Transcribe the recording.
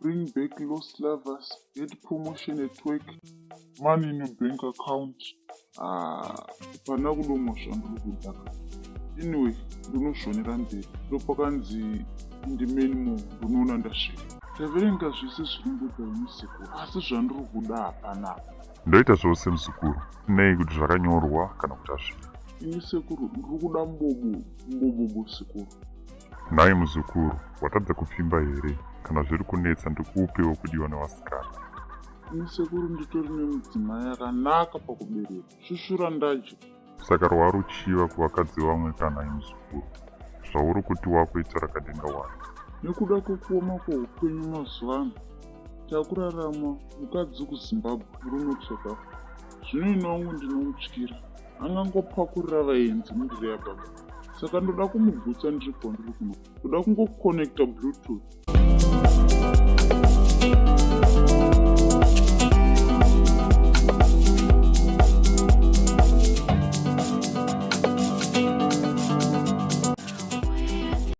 bring back lost lovers get promotion at work money in your bank account ah, pana kudomwa zvandiri kudaka anyway ndinoshonera mberi ndopakanzi indimeni mo ndinoona ndasvika taverenga zvese zviri ndoda musekuru asi zvandiri kuda hapana ndoita zvose muzukuru nei kuti zvakanyorwa kana kuti azvina ini sekuru ndiri kuda mbobo mbobobo sekuru Nhai muzukuru, watadza kupfimba here? Kana zviri kunetsa ndikuupewo kudiwa nevasikana. Musekuru nditori nemudzimai akanaka pakubereka. Shushura ndacho. Saka rwari uchiva kuvakadzi vamwe kana imuzukuru. Zvauri kuti wako ita rakadenga wani. Nekuda kwekuoma kweupenyu mazuva ano, takurarama mukadzi kuzimbabwe uri not south africa zvino ini wangu ndinomutyira angangopakurira vaenzi mundiri yababa saka ndoda kumugutsa ndiri kwandiri kuno ndoda kungoconnecta bluetooth